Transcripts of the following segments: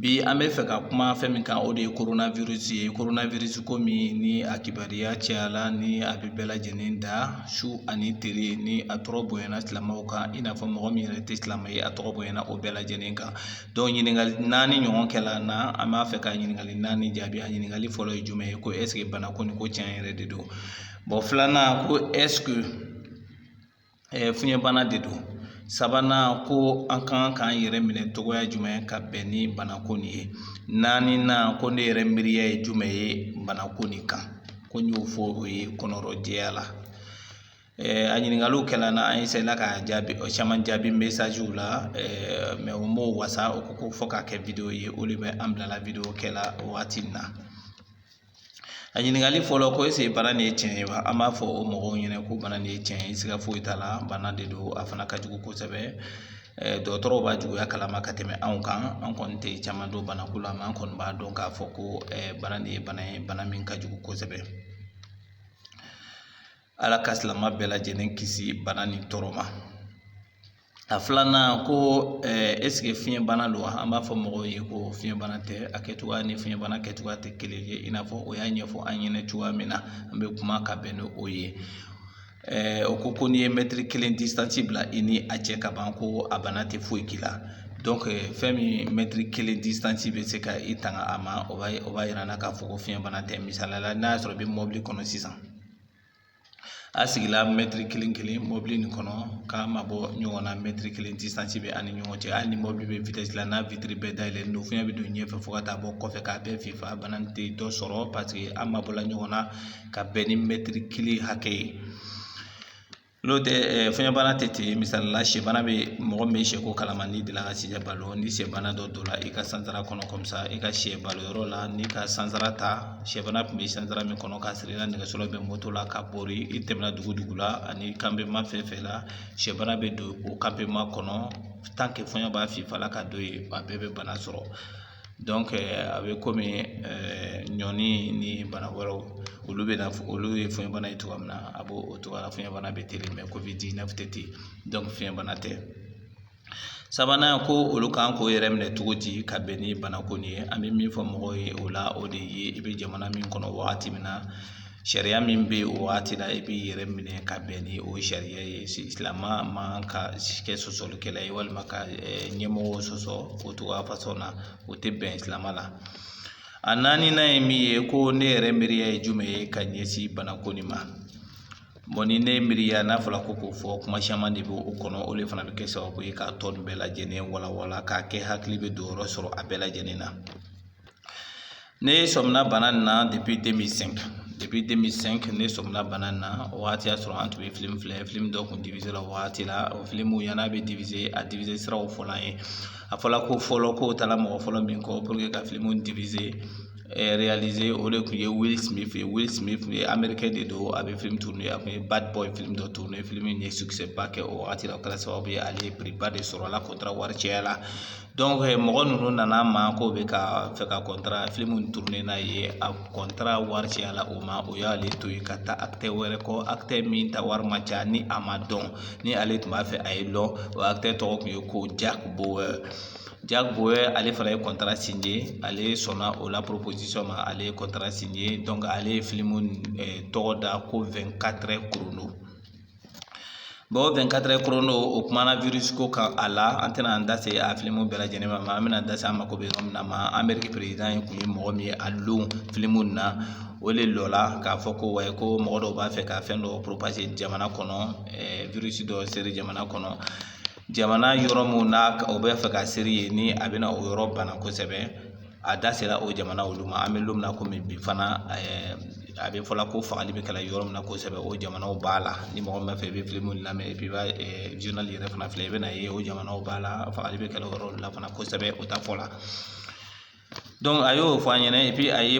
Bi an bɛ fɛ ka kuma fɛn min kan o de ye korona wirisi ye korona wirisi komi ni a kibariya cayala ni a bɛ bɛɛ lajɛlen da su ani tere ni a tɔgɔ bonyana silamɛw kan i n'a fɔ mɔgɔ min yɛrɛ tɛ silamɛ ye a tɔgɔ bonyana o bɛɛ lajɛlen kan dɔnku ɲininkali naani ɲɔgɔn kɛla n na an b'a fɛ ka ɲininkali naani jaabi a ɲininkali fɔlɔ ye jumɛn ye ko ɛseke bana ko nin ko tiɲɛ yɛrɛ de don bɔn filanan ko ɛseke fiɲɛbana de don sabanan ko an ka kan k'an yɛrɛ minɛ cogoya jumɛn ka bɛn ni banako nin ye naaninan ko ne yɛrɛ miiriya ye jumɛn ye banako nin kan ko n y'o fɔ o ye kɔnɔrɔjɛya la a ɲininkaliw kɛla n na an eseyela ka jaabi caman jaabi mesaziw la mɛ o m'o wasa o ko ko fɔ k'a kɛ wideyo ye o de bɛ an bilala wideyo kɛla waati in na A ɲininkali fɔlɔ ko eseke bana nin ye tiɲɛ ye wa an b'a fɔ o mɔgɔw ɲɛna ko bana nin ye tiɲɛ ye siga foyi t'a la bana de don a fana ka jugu kosɛbɛ dɔgɔtɔrɔw b'a juguya kalama ka tɛmɛ anw kan an kɔni tɛ caman dɔn banako la mɛ an kɔni b'a dɔn k'a fɔ ko bana nin ye bana ye bana min ka jugu kosɛbɛ ala ka silamɛ bɛɛ lajɛlen kisi bana nin tɔɔrɔ ma A filanan ko ɛseke fiɲɛ bana don wa an b'a fɔ mɔgɔw ye ko fiɲɛ bana tɛ a kɛ cogoya ni fiɲɛ bana kɛcogoya tɛ kelen ye i n'a fɔ o y'a ɲɛfɔ an ɲɛna cogoya min na an bɛ kuma ka bɛn ni o ye o ko ko n'i ye mɛtiri kelen disansi bila i ni a cɛ ka ban ko a bana tɛ foyi k'i la dɔnku fɛn min mɛtiri kelen disansi bɛ se ka i tanga a ma o b'a o b'a yira an na k'a fɔ ko fiɲɛ bana tɛ misaliya la n'a y'a sɔrɔ i bɛ mɔbili kɔnɔ sisan a sigila mɛtiri kelen kelen mɔbili nin kɔnɔ k'a mabɔ ɲɔgɔn na mɛtiri kelen disansi bɛ a ni ɲɔgɔn cɛ hali ni mɔbili bɛ vitɛsi la n'a witiri bɛɛ dayɛlɛlen don fiɲɛ bɛ don ɲɛfɛ fo ka taa bɔ kɔfɛ k'a bɛɛ fifa bana tɛ dɔ sɔrɔ paseke an mabɔla ɲɔgɔn na ka bɛn ni mɛtiri kelen hakɛ ye n'o tɛ eh, fiɲɛbana tɛ ten misali la sɛbana bɛ mɔgɔ min bɛ sɛko kalama n'i delila ka sɛ balo ni sɛbana dɔ donna i ka sansara kɔnɔ kɔmisa i ka sɛ balo yɔrɔ la n'i ka sansara ta sɛbana tun bɛ sansara min kɔnɔ k'a siri i la nɛgɛso la ou bien moto la ka bori i tɛmɛna dugu dugu la ani kanpema fɛn fɛn la sɛbana bɛ don o kanpema kɔnɔ tant que fɔɲɔ b'a fifa la ka don yen a bɛɛ bɛ bana sɔrɔ donc euh, a bɛ komi euh, ɲɔni ni bana wɛrɛw olu bɛ na olu ye fiɲɛbana ye cogoya min na a b'o o cogoya la fiɲɛbana bɛ teli mɛ covid 19 tɛ ten donc fiɲɛbana tɛ sabanan ko olu kan k'o yɛrɛ minɛ cogo di ka bɛn ni banako nin ye an bɛ min fɔ mɔgɔw ye o la o de ye i bɛ jamana min kɔnɔ wagati min na sariya min bɛ o wagati la i b'i yɛrɛ minɛ ka bɛn ni o sariya ye silamɛ man ka kɛ sɔsɔlikɛla ye walima ka ɲɛmɔgɔ sɔsɔ o cogoya fasɔn na o tɛ bɛn silamɛ la a naaninan ye min ye ko ne yɛrɛ miiriya ye jumɛn ye ka ɲɛsin banako nin ma ni ne miiriya n'a fɔra ko k'o fɔ kuma caman de bɛ o kɔnɔ o de fana bɛ kɛ sababu ye k'a tɔ ninnu bɛɛ lajɛlen walawala k'a kɛ hakili bɛ don yɔrɔ sɔrɔ a bɛɛ lajɛlen na ne sɔmina bana nin na depi deux mille cinq depi deux mille cinq ne sɔmina bana nin na o waati y'a sɔrɔ an tun bɛ filimu filɛ filimu dɔ kun divize la o waati la o filimu yann'a bɛ divize a divize siraw fɔla an ye a fɔla ko fɔlɔ k'o taara mɔgɔ fɔlɔ min kɔ pour que ka filimu divize o de kun ye will smith ye will smith amerikɛn de don a bɛ filimu tourné a kun ye bad boy filimu dɔ tourné filimu in ye succès ba kɛ o wagati la o kɛra sababu ye ale ye prix ba de sɔrɔ a la kɔntara wari caya la donc mɔgɔ ninnu nana ma k'o bɛ ka fɛ ka kɔntara filimu tourné n'a ye a kɔntara wari caya la o ma o y'ale to yen ka taa acteur wɛrɛ kɔ acteur min ta wari ma ca ni a ma dɔn ni ale tun b'a fɛ a ye dɔn o acteur tɔgɔ tun ye ko jack bauer jack bauer ale fana ye kɔntara signé ale sɔnna o la proposition ma ale ye kɔntara signé donc ale ye filimu tɔgɔ da ko vingt-quatre heures chrono bɔn vingt-quatre heures chrono o kumana wirisi ko kan a la an tɛna an da se a filimu bɛɛ lajɛlen ma an bɛna da se an mako bɛ yɔrɔ min na ma ameriki perezidan ye kun ye mɔgɔ min ye a lon filimu na o le lɔla k'a fɔ ko wayi ko mɔgɔ dɔw b'a fɛ ka fɛn dɔ propager jamana kɔnɔ wirisi dɔ seri jamana kɔnɔ jamana yɔrɔ minnu na o b'a fɛ ka seri yen ni a bɛna o yɔrɔ bana kosɛbɛ a da sera o jamana olu ma an bɛ don min na komi bi fana a bɛ fɔla ko fagali bɛ kɛla yɔrɔ min na kosɛbɛ o jamanaw b'a la ni mɔgɔ min b'a fɛ i bɛ filimu lamɛn et puis i b'a journal yɛrɛ fana filɛ i bɛna ye o jamanaw b'a la fagali bɛ kɛla o yɔrɔ la fana kosɛbɛ o ta fɔla a y'o fɔ an ɲɛna et puis a ye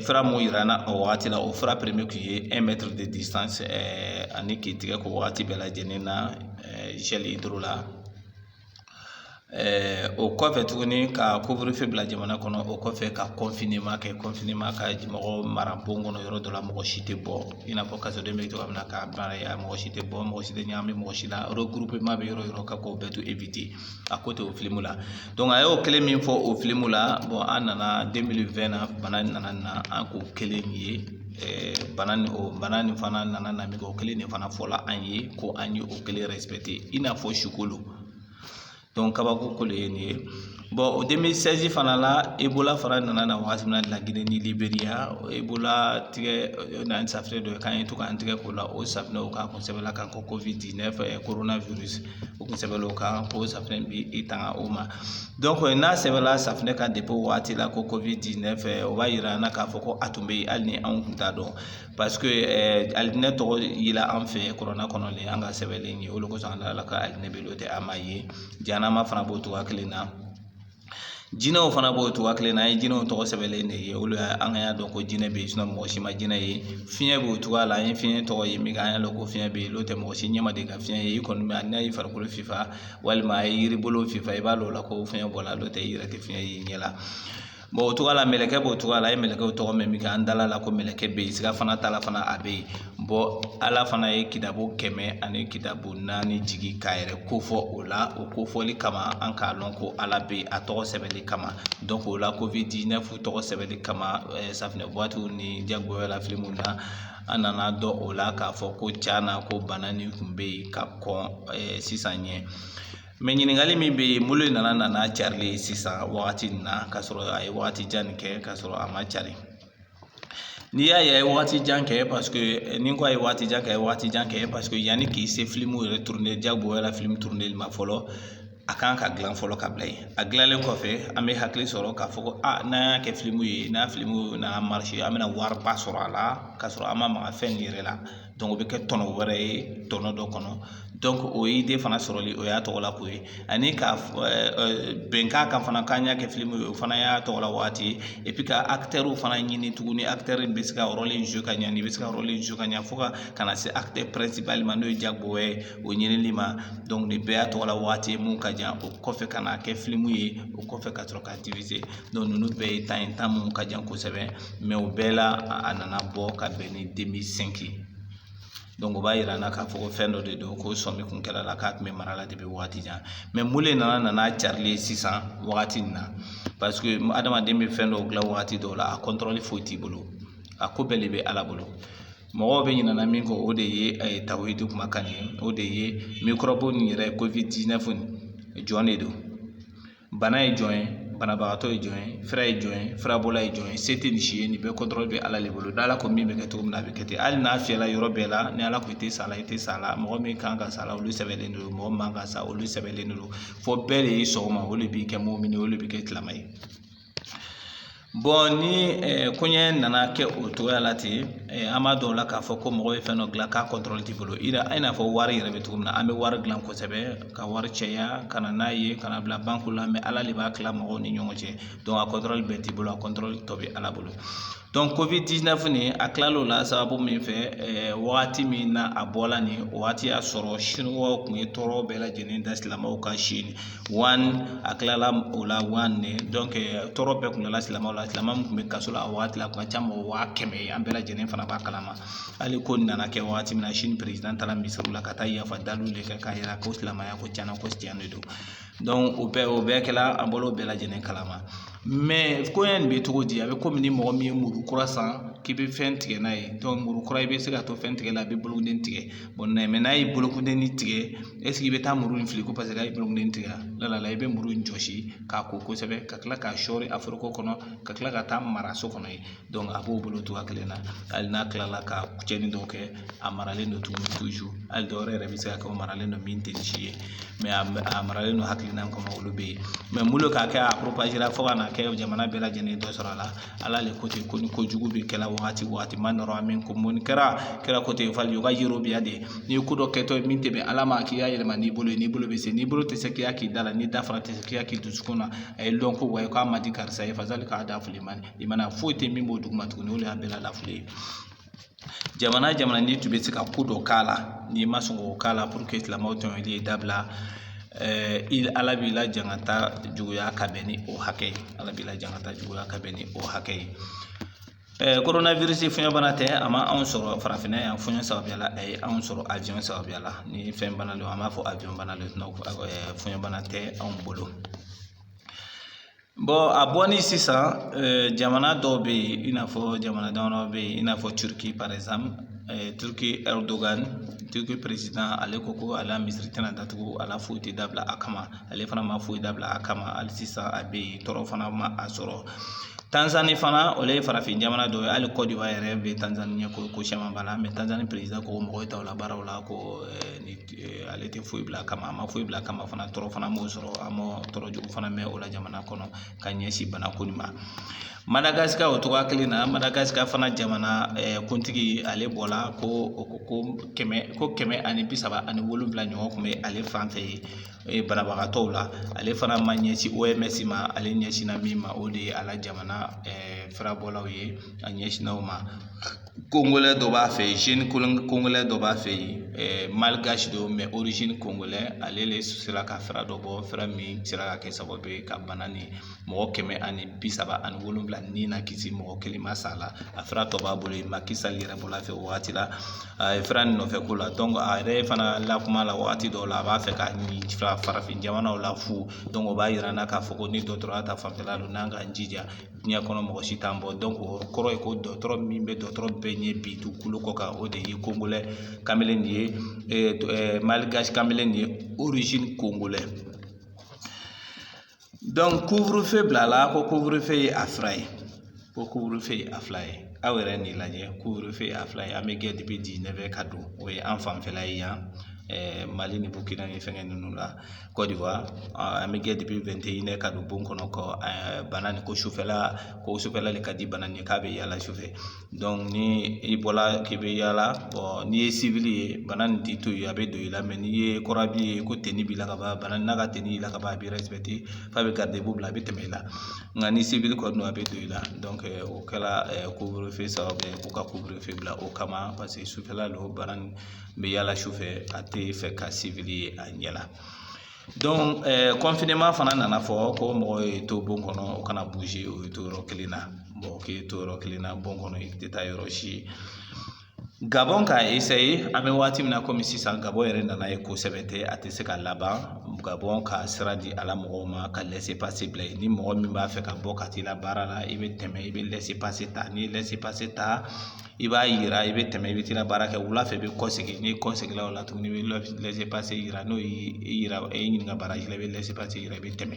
fura min yira an na o wagati la o fura premier kun ye un mètre de distance ani k'i tigɛ ko wagati bɛɛ lajɛlen na gel hydro la o kɔfɛ tuguni ka couvre-feu bila jamana kɔnɔ o kɔfɛ ka confinement kɛ confinement ka mɔgɔ mara bon kɔnɔ yɔrɔ dɔ la mɔgɔ si tɛ bɔ i n'a fɔ kasoden bɛ cogoya min na k'a baara mɔgɔ si tɛ bɔ mɔgɔ si tɛ ɲagami mɔgɔ si la regroupement bɛ yɔrɔ yɔrɔ ka k'o bɛɛ to éviter a ko tɛ o filimu la a y'o kelen min fɔ o filimu la bɔn an nana deux mille vingt na bana in nana na an k'o kelen ye bana nin o bana nin fana nana na o kelen de fana fɔla an ye ko an ye o kelen respecter i n'a fɔ su kolo kabako ko de ye nin ye bɔn deux mille seize fana la ebola fana nana na wagati min na laginɛ ni liberiya ebola tigɛ na safunɛ dɔ ye k'an ye to k'an tigɛ ko la o safunɛ o kan kun sɛbɛnla kan ko covid dix-neuf o kun sɛbɛnla o kan ko safunɛ b'i tanga o ma donc n'a sɛbɛnla safunɛ kan depi o waati la ko covid dix-neuf o b'a yira an na k'a fɔ ko a tun bɛ yen hali ni anw tun t'a dɔn paseke alijinɛ tɔgɔ yela an fɛ yen kurana kɔnɔ le an k'a sɛbɛnlen ye o de kosɔn an da a la ko alijinɛ bɛ yen n'o tɛ an m'a ye jahanama fana b'o cogoya kelen na Jinɛw fana b'o cogoya kelen na an ye jinɛw tɔgɔ sɛbɛnlen de ye olu y'a an ka y'a dɔn ko jinɛ bɛ yen sinɔn mɔgɔ si ma jinɛ ye fiɲɛ b'o cogoya la an ye fiɲɛ tɔgɔ ye min an y'a dɔn ko fiɲɛ bɛ yen n'o tɛ mɔgɔ si ɲɛ ma deli ka fiɲɛ ye i kɔni bɛ n'a ye farikolo fifa walima a ye yiri bolo fifa i b'a dɔn o la ko fiɲɛ bɔla n'o tɛ i yɛrɛ tɛ fiɲɛ ye i ɲɛ la bɔn o cogoya la mɛlɛkɛ b'o cogoya la an ye mɛlɛkɛw tɔgɔ mɛn min kɛ an dal'a la ko mɛlɛkɛ bɛ yen siga fana t'a la fana a bɛ yen bɔn ala fana ye kitabu kɛmɛ ani kitabu naani jigi k'a yɛrɛ kofɔ o la o kofɔli kama an k'a lɔn ko ala be a tɔgɔ sɛbɛli kama dɔnk o la covid 19 tɔgɔ sɛbɛli kama eh, safinɛ buwatiw ni Jack Bauer la filimu na an nan'a dɔn o la k'a fɔ ko can na ko bana nin kun be yen ka kɔn eh, sisan ɲɛ mɛ ɲininkali min bɛ yen mun le nana na n'a carili ye sisan wagati nin na k'a sɔrɔ a ye wagati jan nin kɛ k'a sɔrɔ a ma cari N'i y'a ye a ye wagati jan kɛ paseke ni n ko a ye wagati jan kɛ a ye wagati jan kɛ paseke yanni k'i se filimu yɛrɛ turune Jack Bauer la filimu turuneli ma fɔlɔ a kan ka gilan fɔlɔ ka bila yen a gilannen kɔfɛ an bɛ hakili sɔrɔ k'a fɔ ko aa n'an y'a kɛ filimu ye n'a filimu nana marise an bɛna wariba sɔrɔ a la k'a sɔrɔ an ma maga fɛn nin yɛrɛ la o bɛ kɛ tɔnɔ wɛrɛ ye tɔnɔ dɔ kɔnɔ dɔnk o ide fana sɔrɔli o y'a tɔgɔla ko ye ani ka bɛnkan kan fana k'an y'a kɛ filimu ye o fana y'a tɔgɔla waati ye epi ka akitɛriw fana ɲini tuguni akitɛri bɛ se ka rɔli zuwe ka ɲɛ nin bɛ se ka rɔli zuwe ka ɲɛ fo ka ka na se akitɛri pɛrɛnsipali ma n'o ye Jack Bauer ye o ɲinili ma dɔnk nin bɛɛ y'a tɔgɔla waati ye mun ka jan o kɔfɛ ka n'a kɛ filimu ye o kɔfɛ ka sɔrɔ k'a difize dɔnk ninnu bɛɛ ye tan ye tan mun ka jan kosɛbɛ mɛ o bɛɛ la a nana bɔ ka bɛn ni demili sɛnki dɔnku o b'a yira an na k'a fɔ ko fɛn dɔ de don ko sɔmi kun kɛr'a la k'a tun bɛ marala depi wagati jan mɛ mun le nana na n'a carili ye sisan wagati nin na paseke adamaden bɛ fɛn dɔw dilan wagati dɔw la a kɔntɔrɔli foyi t'i bolo a ko bɛɛ de bɛ ala bolo mɔgɔw bɛ ɲinana min kɔ o de ye a ye tawhidi kuma kan ye o de ye mikɔrɔbu nin yɛrɛ covid 19 nin jɔn de don bana ye jɔn ye banabagatɔ ye jɔn ye fura ye jɔn ye furabɔla ye jɔn ye se tɛ nin si ye nin bɛɛ kɔntɔrɔli bɛ ala de bolo ni ala ko min bɛ kɛ cogo min na a bɛ kɛ ten hali n'a fiyɛla yɔrɔ bɛɛ la ni ala ko i tɛ sa la i tɛ sa la mɔgɔ min kan ka sa la olu sɛbɛnlen don mɔgɔ min man ka sa olu sɛbɛnlen don fo bɛɛ de ye sɔn o ma o de b'i kɛ mumini o de b'i kɛ silama ye ni koɲɛ nana kɛ o cogoya la ten an b'a dɔn o la k'a fɔ ko mɔgɔ bɛ fɛn dɔ dilan k'a kɔntɔrɔli t'i bolo i n'a fɔ wari yɛrɛ bɛ cogo min na an bɛ wari dilan kosɛbɛ ka wari caya ka na n'a ye ka n'a bila banki la mɛ ala de b'a kila mɔgɔw ni ɲɔgɔn cɛ dɔnk a kɔntɔrɔli bɛɛ t'i bolo a kɔntɔrɔli tɔ bɛ ala bolo dɔnk covid 19 nin a kilal'o la sababu min fɛ wagati min na a bɔla nin wagati y'a sɔrɔ siniwaw kun ye tɔɔrɔ bɛɛ lajɛlen da silamɛw kan si wa a kilala o la wa ne donc tɔɔrɔ bɛɛ kun dala silamɛw la silamɛ min kun bɛ kaso la a wagati la a kun ka ca mɔgɔ waa kɛmɛ ye an bɛɛ lajɛlen fana b'a kalama hali ko nin nana kɛ wagati min na chine président taara misiriw la ka taa yafa daliw de kɛ k'a yira ko silamɛya ko tiɲɛna ko tiɲɛ de don donc o bɛɛ kɛla an bɔla o bɛɛ lajɛlen kalama mais koɲɛ nin bɛ cogo di a bɛ komi ni mɔgɔ min ye muru kura san k'i bɛ fɛn tigɛ n'a ye donc muru kura i bɛ se ka to fɛn tigɛ la a bɛ bolokunden tigɛ bon mais n'a ye bolokunden tigɛ est ce que i bɛ taa muru in fili ko parce que a ye bolokunden tigɛ la i bɛ muru in jɔsi k'a ko kosɛbɛ ka kila k'a sɔɔri a foroko kɔnɔ ka kila ka taa mara so kɔnɔ yen a b'o bolo togoya kelen na hali n'a kilala ka cɛnni dɔw kɛ a maralen don tuguni hali dɔwɛrɛ yɛrɛ bɛ se ka kɛ o maralen don min tɛ si ye a maralen don hakilina kɔnɔ olu bɛ yen mais mun de k'a kɛ a propagera fo ka na kɛ jamana bɛɛ lajɛlen dɔ sɔrɔ a la ala le ko ten ko ni ko jugu bɛ kɛla wagati wagati man raa minkum munkaran ko ten falyughayyirhu biyadihi n'i ye ko dɔ kɛtɔ ye min tɛ bɛn ala ma k'i y'a yɛlɛma n'i bolo ye n'i bolo bɛ se n'i bolo tɛ se k'i y'a k'i da la n'i da fana tɛ se k'i y'a k'i dusukun na a ye lɔn ko wa k'a ma di karisa ye fazalika ad'aful iman imani foyi tɛ min b'o duguma tuguni o de y'a bɛɛ la lafili ye jamana jamana n'i tun bɛ se ka ko dɔ k'a la n'i ma sɔn k'o k'a la pour que silamɛw tɔɲɔli ye dabila ɛɛ i ala b'i la jangata juguya ka bɛn ni o hakɛ ye ala b'i la jangata juguya ka bɛn ni o hakɛ ye ɛɛ coronavirus fiɲɛ bana tɛ a ma anw sɔrɔ farafinna yan fiɲɛ sababuya la a ye anw sɔrɔ avion sababuya la ni fɛn bana don an b'a fɔ avion bana don fiɲɛ bana tɛ anw bolo a bɔli sisan jamana dɔw bɛ yen i n'a fɔ jamana damadɔ bɛ yen i n'a fɔ turquie par exemple turquie erdogan turquie président ale ko ko a la misiri tɛna datugu a la foyi tɛ dabila a kama ale fana ma foyi dabila a kama hali sisan a bɛ yen tɔɔrɔ fana ma a sɔrɔ tanzanie fana o le ye farafin jamana dɔ ye hali côte d'ivoire yɛrɛ bɛ tanzanie ɲɛ ko ko caman b'a la mais tanzanie président ko mɔgɔ t'a la baaraw la ko ale tɛ foyi bila a kama a ma foyi bila a kama fana tɔɔrɔ fana m'o sɔrɔ an ma tɔɔrɔ jugu fana mɛn o la jamana kɔnɔ ka ɲɛsin bana ko nin ma madagascar o togoya kelen na madagascar fana jamana kuntigi ale bɔla ko ko kɛmɛ ko kɛmɛ ani bi saba ani wolonwula ɲɔgɔn kun bɛ ale fan fɛ yen banabagatɔw la ale fana ma ɲɛsin oms ma ale ɲɛsinna min ma o de ye a la jamana furabɔlaw ye a ɲɛsinna o ma congolais dɔ b'a fɛ yen congolais dɔ b'a fɛ yen malgache don mais origine congolais ale de sera ka fura dɔ bɔ fura min sera ka kɛ sababu ye ka bana nin mɔgɔ kɛmɛ ani bi saba ani wolonwula nin nakisi mɔgɔ kelen ma sa la a fura tɔ b'a bolo yen macky sall yɛrɛ bɔra a fɛ o wagati la a ye fura nɔfɛ ko la a yɛrɛ fana la kuma la wagati dɔw la a b'a fɛ k'a ni farafin jamanaw la fu donc o b'a yira an na k'a fɔ ko ni dɔgɔtɔrɔya ta fanfɛla don n'an k'an jija diɲɛ kɔnɔ mɔgɔ si t'an bɔ donc o kɔrɔ ye ko dɔgɔtɔrɔ min bɛ dɔgɔtɔrɔ bɛɛ ɲɛ bi dugukolo kɔ kan o de ye kongolɛ kamalen de ye malgasi kamalen ye orizini kongolɛ donc couvre-feu bilala ko couvre-feu ye a fila ye ko couvre-feu ye a fila ye aw yɛrɛ nin lajɛ couvre-feu ye a fila ye an bɛ gɛn depuis dix-neuf heures ka don o ye an fanfɛla ye yan mali ni bukina ni fɛngɛ ninnu la kɔdiwari an bɛ gɛn depuis vingt et une heures ka don bon kɔnɔ ko bana nin ko sufɛla ko sufɛla de ka di bana nin k'a bɛ yaala sufɛ donc ni i bɔla k'i bɛ yaala bon n'i ye civil ye bana nin t'i to yen a bɛ don i la mais n'i ye corps habillé ko tenue b'i la ka ban bana n'a ka tenue y'i la ka ban a b'i respecté f'a bɛ garde-à-vous bila a bɛ tɛmɛ i la nka ni civil kɔni don a bɛ don i la donc o kɛla couvre-feu sababu ye k'u ka couvre-feu bila o kama paseke sufɛla don bana nin n bɛ yaala su fɛ a tɛ fɛ ka civil ye a ɲɛ la donc confinement fana nana fɔ ko mɔgɔ ye to bon kɔnɔ o kana bouger o ye to yɔrɔ kelen na mɔgɔ k'i to yɔrɔ kelen na bon kɔnɔ i tɛ taa yɔrɔ si ye gabɔn k'a esaye an bɛ waati min na komi sisan gabɔn yɛrɛ nana ye kosɛbɛ tɛ a tɛ se ka laban gabɔn ka sira di a la mɔgɔw ma ka lɛse pase bila yen ni mɔgɔ min b'a fɛ ka bɔ ka t'i la baara la i bɛ tɛmɛ i bɛ lɛse pase ta n'i ye lɛse pase ta i b'a yira i bɛ tɛmɛ i bɛ t'i la baara kɛ wula fɛ i bɛ kɔ segin n'i kɔ seginna o la tuguni i bɛ lɛse pase yira n'o y'i yɛrɛ ɲininka barrage la i bɛ lɛse pase yira i bɛ tɛmɛ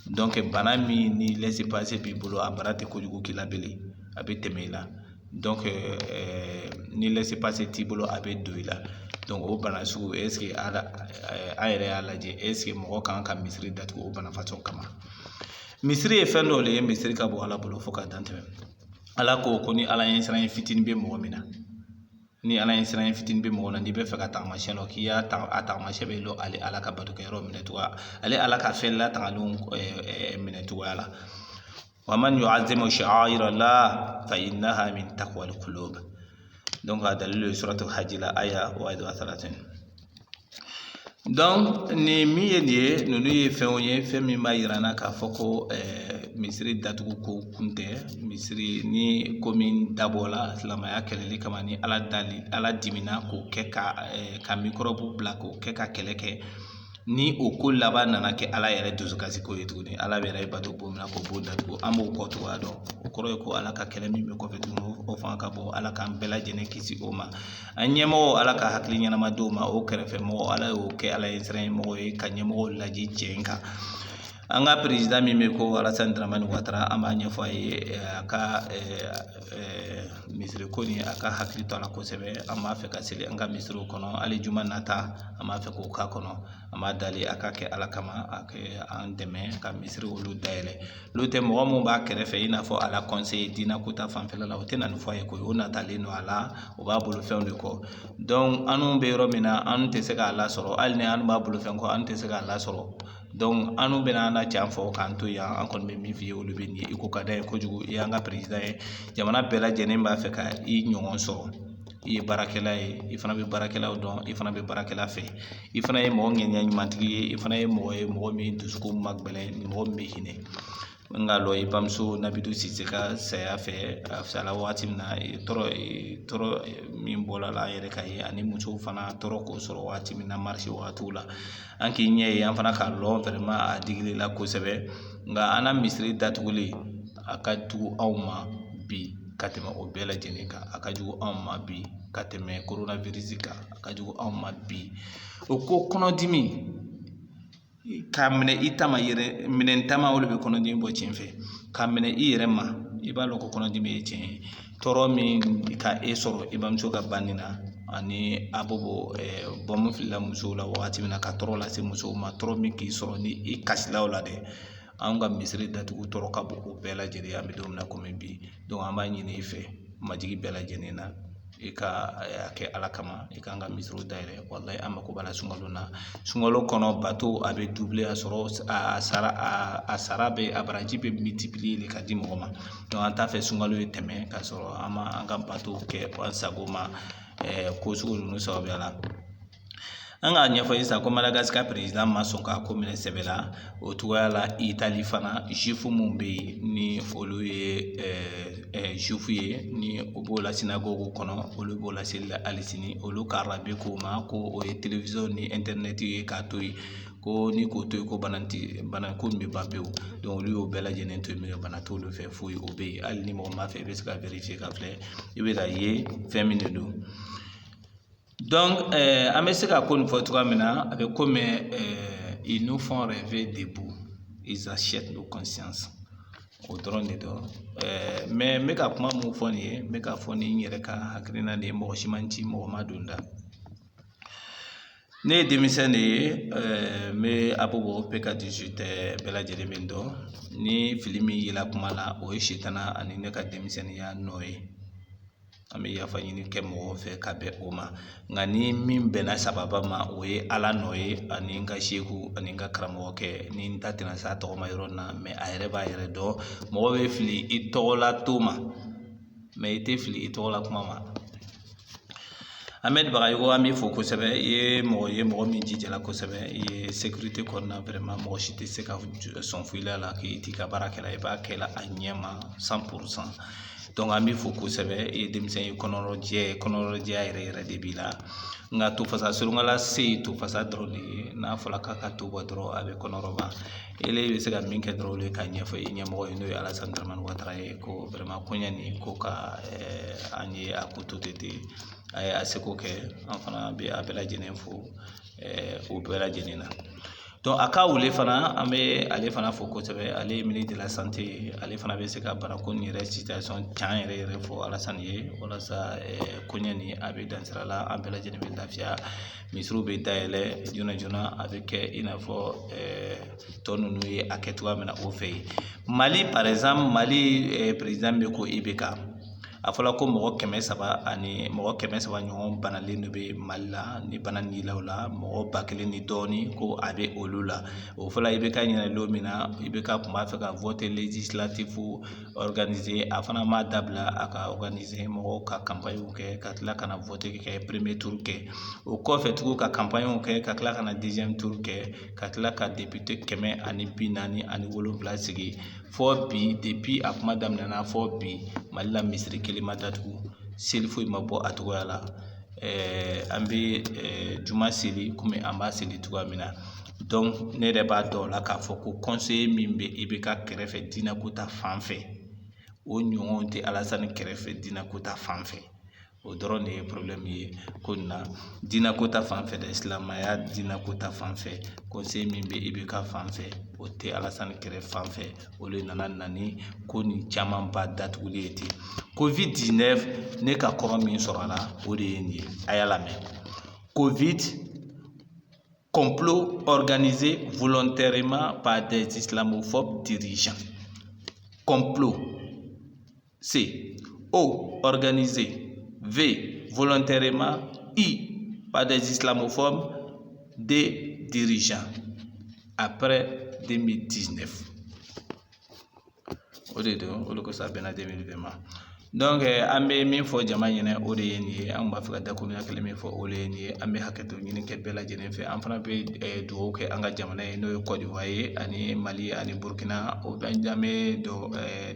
donc bana min ni lɛse pase b'i bolo a bana tɛ kojugu k'i la bilen a bɛ tɛmɛ i la donc ni lɛse pase t'i bolo a bɛ don i la donc o bana sugu an yɛrɛ y'a lajɛ eseke mɔgɔ kan ka misiri datugu o bana façon kama misiri ye fɛn dɔ le ye misiri ka bon ala bolo fo ka dan tɛmɛ ala ko ko ni ala ɲɛsiran fitinin bɛ mɔgɔ min na ni ala ɲɛsiran fitinin bɛ mɔgɔ na n'i b'a fɛ k'a tagamasiyɛn dɔn k'i y'a ta a tagamasiyɛn bɛ lɔn ale ala ka batokɛyɔrɔ minɛ cogoya ale ala ka fɛn latangalenw minɛ cogoya la wa man yu'azzimu sha'aira llah fa innaha min taqwal qulub donc a dalilu ye suratu hajji la aya wahid wa thalathun donc ni min ye nin ye ninnu ye fɛnw ye fɛn min b'a yira an na k'a fɔ ko eh, misiri datugu ko kun tɛ misiri ni ko min dabɔla silamaya kɛlɛli kama ni ala dali ala dimina k'o kɛ ka eh, ka mikɔrɔbu bila k'o kɛ ka kɛlɛ kɛ ni o ko laban nana kɛ ala yɛrɛ dusukasi ko ye tuguni ala yɛrɛ bɛ bato bon min na k'o b'o datugu an b'o kɔ cogoya dɔn o kɔrɔ ye ko ala ka kɛlɛ min bɛ kɔfɛ tuguni o fanga ka bon ala k'an bɛɛ lajɛlen kisi o ma an ɲɛmɔgɔw ala ka hakili ɲɛnama di o ma o kɛrɛfɛ mɔgɔ ala y'o kɛ ala ɲɛsiran mɔgɔ ye ka ɲɛmɔgɔw laadi cɛn kan an ka perezida min bɛ ko alasani daramani watara an b'a ɲɛfɔ a ye eh, a ka eh, eh, misiri ko nin a ka hakili to a la kosɛbɛ an b'a fɛ ka seli an ka misiriw kɔnɔ hali juma nata an b'a fɛ k'o k'a kɔnɔ an b'a dali a ka kɛ ala kama a kɛ an dɛmɛ ka misiri olu dayɛlɛ n'o tɛ mɔgɔ min b'a kɛrɛfɛ i n'a fɔ a la kɔnse diina ko ta fanfɛla la o tɛna nin fɔ a ye koyi o natalen don a la o b'a bolo fɛnw de kɔ dɔnku anw bɛ yɔrɔ min na an tɛ se k'a lasɔrɔ hali ni an b'a bolo fɛn kɔ an tɛ se k'a lasɔrɔ anw bɛna an na cɛn fɔ k'an to yan an kɔni bɛ min f'i ye olu bɛ nin ye i ko ka d'an ye kojugu i y'an ka perezida ye jamana bɛɛ lajɛlen b'a fɛ ka i ɲɔgɔn sɔrɔ i ye baarakɛla ye i fana bɛ baarakɛlaw dɔn i fana bɛ baarakɛla fɛ i fana ye mɔgɔ ŋaniya ɲumantigi ye i fana ye mɔgɔ ye mɔgɔ min dusukun man gbɛlɛn ni mɔgɔ min bɛ hinɛ n k'a lɔn i bamuso nabintu sise ka saya fɛ a fisayala wagati min na tɔɔrɔ min bɔla i la an yɛrɛ k'a ye ani musow fana tɔɔrɔ k'o sɔrɔ waati min na marisi wagatiw la an k'i ɲɛ ye an fana k'a lɔn fɛrɛma a digil'i la kosɛbɛ nka an na misiri datuguli a ka jugu anw ma bi ka tɛmɛ o bɛɛ lajɛlen kan a ka jugu anw ma bi ka tɛmɛ koronafirisi kan a ka jugu anw ma bi o ko kɔnɔdimi k'a minɛ i ta ma i yɛrɛ minɛn ta ma o le bɛ kɔnɔdimi bɔ cɛn fɛ k'a minɛ i yɛrɛ ma i b'a lɔn ko kɔnɔdimi ye cɛn ye tɔɔrɔ min ka e sɔrɔ i bamuso ka banni na ani abobo bɔnmu filila musow la wagati min na ka tɔɔrɔ lase musow ma tɔɔrɔ min k'i sɔrɔ ni i kasila o la dɛ anw ka misiri datugu tɔɔrɔ ka bon o bɛɛ lajɛlen an bɛ don min na komi bi dɔnku an b'a ɲini i fɛ majigi bɛɛ lajɛlen na i ka a kɛ ala kama i k'an ka misiriw dayɛlɛ walahi an mako b'a la sunkalo na sunkalo kɔnɔ bato a bɛ doubler a sɔrɔ a sara bɛ a baraji bɛ multiplier le ka di mɔgɔ ma dɔnku an t'a fɛ sunkalo ye tɛmɛ k'a sɔrɔ an ma an ka bato kɛ an sago ma ko sugu ninnu sababuya la an k'a ɲɛfɔ i ye sisan ko madagasikari perezida ma sɔn k'a ko minɛ sɛbɛ la o cogoya la itali fana zifu minnu bɛ yen ni olu ye zifu ye ni o b'o la synagogue kɔnɔ olu b'o la seli la hali sini olu ka rabbin k'o ma ko o ye télévision ni internet ye k'a to yen ko ni k'o to yen ko bana ti bana ko nin bɛ ban pewu dɔnku olu y'o bɛɛ lajɛlen to yen mɛ bana t'olu fɛ foyi o bɛ yen hali ni mɔgɔ m'a fɛ i bɛ se ka vérifier k'a filɛ i bɛ k'a ye fɛn min de don an bɛ se ka ko nin fɔ cogoya min na a bɛ komi ils nous font rêver debout ils achètent nos consciences o dɔrɔn de don mɛ n bɛ ka kuma min fɔ nin ye n bɛ k'a fɔ ni n yɛrɛ ka hakilina de ye mɔgɔ si ma n ci mɔgɔ m'a don n da ne ye denmisɛn de ye n bɛ abobo pk dix-huit bɛɛ lajɛlen bɛ n dɔn ni fili min yela kuma na o ye sitana ani ne ka denmisɛnninya nɔ ye an bɛ yafa ɲini kɛ mɔgɔw fɛ ka bɛn o ma nka ni min bɛnna sawaba ma o ye ala nɔ ye ani n ka seku ani n ka karamɔgɔkɛ ni n da tɛna se a tɔgɔ ma yɔrɔ min na mais a yɛrɛ b'a yɛrɛ dɔn mɔgɔ bɛ fili i tɔgɔla to ma mais i tɛ fili i tɔgɔla kuma ma Ahmed Bagayogo an b'i fo kosɛbɛ i ye mɔgɔ ye mɔgɔ min jijala kosɛbɛ i ye sécurité kɔnɔna vraiment mɔgɔ si tɛ se ka sɔn foyi la k'i t'i ka baara kɛ la i b'a kɛ la a ɲɛ ma cent pour cent an b'i fo kosɛbɛ e ye denmisɛn ye kɔnɔrɔjɛ kɔnɔrɔjɛya yɛrɛ yɛrɛ de b'i la nka to fasa surunkala se ye to fasa dɔrɔn de ye n'a fɔra k'a ka to bɔ dɔrɔn a bɛ kɔnɔrɔba ele bɛ se ka min kɛ dɔrɔn o le ye k'a ɲɛfɔ i ɲɛmɔgɔ ye n'o ye alasan daramani watara ye ko vraiment koɲɛ nin ko ka an ye a ko to tɛ ten a ye a seko kɛ an fana bɛ a bɛɛ lajɛlen fo o bɛɛ lajɛlen na donc Aka Aouélé fana an bɛ ale fana fo kosɛbɛ ale ye ministre de la santé ale fana bɛ se ka banako nin yɛrɛ situation can yɛrɛ yɛrɛ fɔ alasan ye walasa koɲɛ nin a bɛ dansira la an bɛɛ lajɛlen bɛ lafiya misiriw bɛ dayɛlɛ joona joona a bɛ kɛ i n'a fɔ tɔ ninnu ye a kɛ cogoya min na o fɛ yen mali par exemple mali président bɛ ko IBK a fɔra ko mɔgɔ kɛmɛ saba ani mɔgɔ kɛmɛ saba ɲɔgɔn banalen de bɛ mali la ni bana nin la o la mɔgɔ ba kelen ni dɔɔnin ko a bɛ olu la o fɔra IBK ɲɛna don min na IBK kun b'a fɛ ka vote législatif organiser a fana m'a dabila a k'a organiser mɔgɔw ka campagne kɛ ka tila ka na vote kɛ premier tour kɛ o kɔfɛ tugun ka campagne kɛ ka tila ka na deuxième tour kɛ ka tila ka député kɛmɛ ani bi naani ani wolonwula sigi fɔ bi depuis a kuma daminɛna fɔ bi mali la misiri kelen ma datugu seli foyi ma bɔ a cogoya la ɛɛ an bɛ ɛɛ juma seli kɔmi an b'a seli cogoya min na donc ne yɛrɛ b'a dɔn o la k'a fɔ ko conseiller min bɛ IBK kɛrɛfɛ diinɛ ko ta fan fɛ o ɲɔgɔn tɛ alasani kɛrɛfɛ diinɛ ko ta fan fɛ o dɔrɔn de ye problème ye ko nin na diinɛ ko ta fan fɛ dɛ silamɛya diinɛ ko ta fan fɛ conseiller min bɛ IBK fan fɛ o tɛ alasani kɛrɛ fan fɛ o de nana na ni ko nin camanba datuguli ye ten Covid-19 ne ka kɔrɔ min sɔrɔ a la o de ye nin ye a y'a lamɛn Covid complot organisé volontairement par des islamophobes dirigeants. Complot. C. O. Organisé. V. Volontairement. I. Par des islamophobes. D. Dirigeants. Après 2019. O de don o de kosɔn a bɛnna 2020 ma donc eh, an bɛ min fɔ jama ɲɛna o de ye nin ye an b'a fɛ ka dakuruɲa kelen min fɔ o de ye nin ye an bɛ hakɛto ɲini kɛ bɛɛ lajɛlen fɛ an fana bɛ eh, dugawu kɛ an ka jamana ye n'o ye kɔdiwari ye ani mali ani burukina o bɛ an bɛ dɔ eh,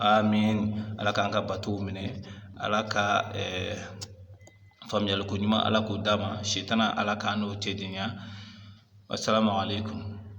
amin ala k'an ka batow minɛ ala ka faamuyali ko ɲuman ala k'o d'an ma sitanɛ ala k'an n'o cɛ janya asalamu alekum